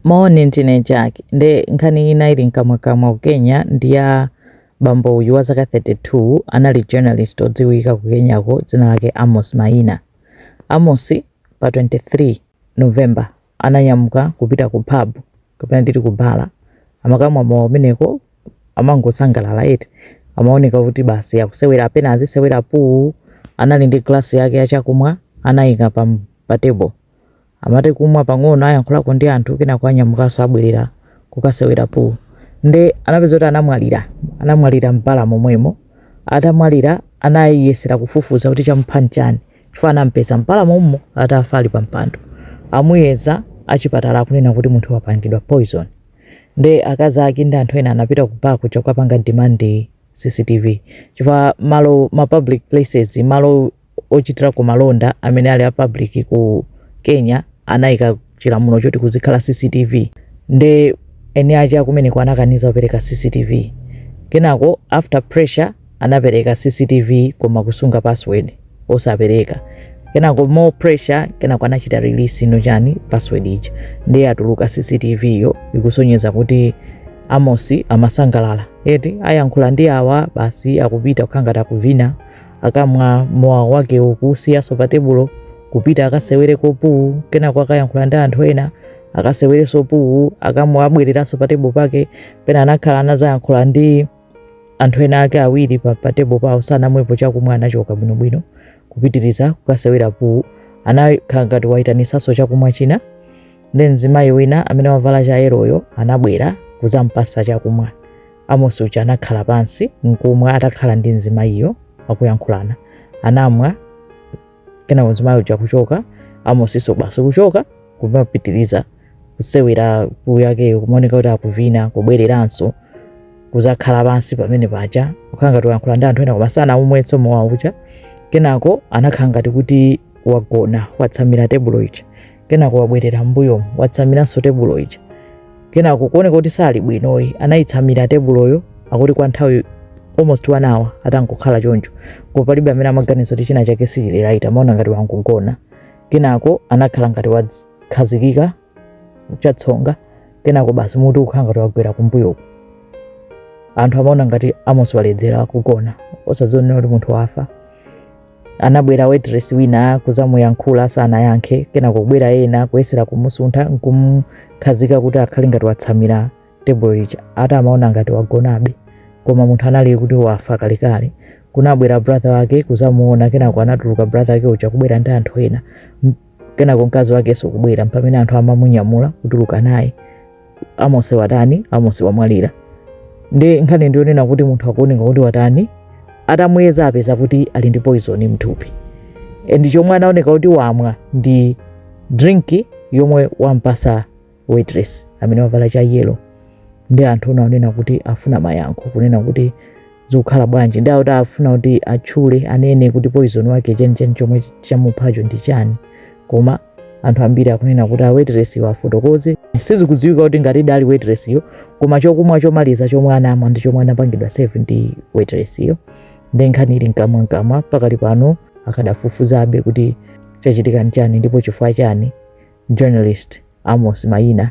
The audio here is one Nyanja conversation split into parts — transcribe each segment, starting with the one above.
Moni ndine Jack nde nkhani ina ili mkamwakamwa ku Kenya ndi ya bambo uyu wa zaka 32 anali journalist odziwika ku Kenyako dzina lake Amos Maina. Amos pa 23 November ananyamuka kupita ku pub kapena nditi ku bala amakamwa mowa umeneko amangosangalala eti amaoneka kuti basi akusewera apena azisewera pool anali ndi glass yake ya chakumwa anayika pa, pa table Amati kumwa pang'ono ayankhulako ndi anthu kenako anyamukanso abwelera kukasewera pool nde anapeza kuti anamwalira anamwalira m'bala momwemo atamwalira anayesera kufufuza kuti chamupha nchani chifukwa anampeza m'bala mommo atafa ali pampando amuyeza achipatala akunena kuti munthu wapangidwa poison nde akazi ake ndi anthu ena anapita ku bar kuja kukapanga demand cctv chifukwa malo ma public places malo ochitirako malonda amene ali a public ku Kenya anaika chilamulo choti kuzikhala CCTV nde eni ache a kumeneko anakaniza kupereka CCTV kenako after pressure anapereka CCTV koma kusunga password osapereka kenako more pressure kenako anachita release ino chani password ija ndiye atuluka CCTV yo ikusonyeza kuti Amosi amasangalala eti ayankhula ndi awa basi akupita kukhala ngati akuvina akamwa mowa wake akuusiyanso pa tebulo kupita akasewere puwu kenako akayankhula ndi anthu ena akasewerenso puwu akamwa abwereranso pa tebulo pake pena anakhala anazayankhula ndi anthu ena ake awiri pa, pa tebulo pawo sanamwepo chakumwa anachoka bwinobwino kupitiriza kukasewera puwu anakhala ngati wayitanitsanso chakumwa china nde mzimayi wina amene wavala chayeroyo anabwera kuzampasa chakumwa Amosi uja anakhala pansi nkumwa atakhala ndi mzimayiyo akuyankhulana. Anamwa kenako mzimayi uja kuchoka, Amosinso basi kuchoka kumapitiriza kusewera puwu yakeyo kumaoneka kuti akuvina kubwereranso kuzakhala pansi pamene paja kukhala ngati wayankhula ndi anthu ena koma sanaumwenso mowa uja kenako anakhala ngati kuti wagona watsamira tebulo ija kenako wabwerera m'mbuyo watsamiranso tebulo ija kenako kuoneka kuti sali bwinoyi anayitsamira tebuloyo akuti kwa nthawi almost one hour atangokhala choncho koma palibe amene amaganiza kuti china chake sichili right amaona ngati wangogona kenako anakhala ngati wakhazikika chatsonga kenako basi mutu kukhala ngati wagwera kumbuyoko anthu amaona ngati Amos waledzera kugona osaziwa kuti munthu wafa Anabwera waitress wina kuzamuyankhula sanayankhe, kenako kubwera ena kuyesera kumusuntha nkumukhazika kuti akhale ngati watsamira tebulo ija ati amaona ngati wagonabe koma munthu anali kuti wafa kalekale. Kunabwera brother wake kuzamuona kenako anatuluka brother wake uja kubwera ndi anthu ena. kenako mkazi wakenso kubwera mpamene anthu amamunyamula kutuluka naye Amos watani Amos wamwalira ndi nkhani ndiyonena kuti munthu akuoneka kuti watani atamuyeza apeza kuti ali ndi poison mthupi and chomwe anaoneka kuti wamwa ndi drink yomwe wampasa waitress amene wavala cha yellow ndi anthu ena onena kuti afuna mayankho kunena kuti zikukhala bwanji ndi akuti afuna kuti atchule anene kuti poison wake chenicheni chomwe chamuphacho ndi chani koma anthu ambiri akunena kuti waitress yo afotokoze sizikudziwika kuti ngati idali waitress yo koma chokumwa chomaliza chomwe anamwa ndi chomwe anapangidwa serve ndi waitress yo ndi nkhani ili mkamwa mkamwa pakali pano akadafufuzabe kuti chachitika nchani ndipo chifukwa chani journalist Amos Maina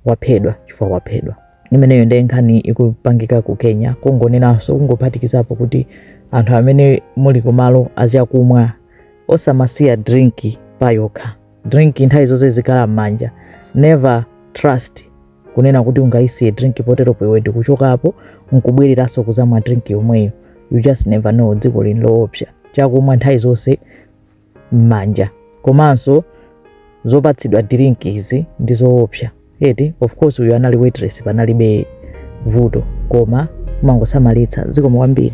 waphedwa chifukwa waphedwa. Imeneyo ndiye nkhani ikupangika ku Kenya, kungonenanso kungophatikizapo kuti anthu amene muli kumalo achakumwa osamasiya drink payokha. Drink nthawi zonse zikhala m'manja, never trust kunena kuti ungayisiye drink poteropo iwe ndikuchokapo nkubwereranso kuzamwa drink yomweyo. You just never know, dziko lino loopsa. Chakumwa nthawi zonse mmanja komanso zopatsidwa drink izi ndi zoopsa eti of course uyu anali waitress panalibe vuto koma kumangosamalitsa zikomo kwambiri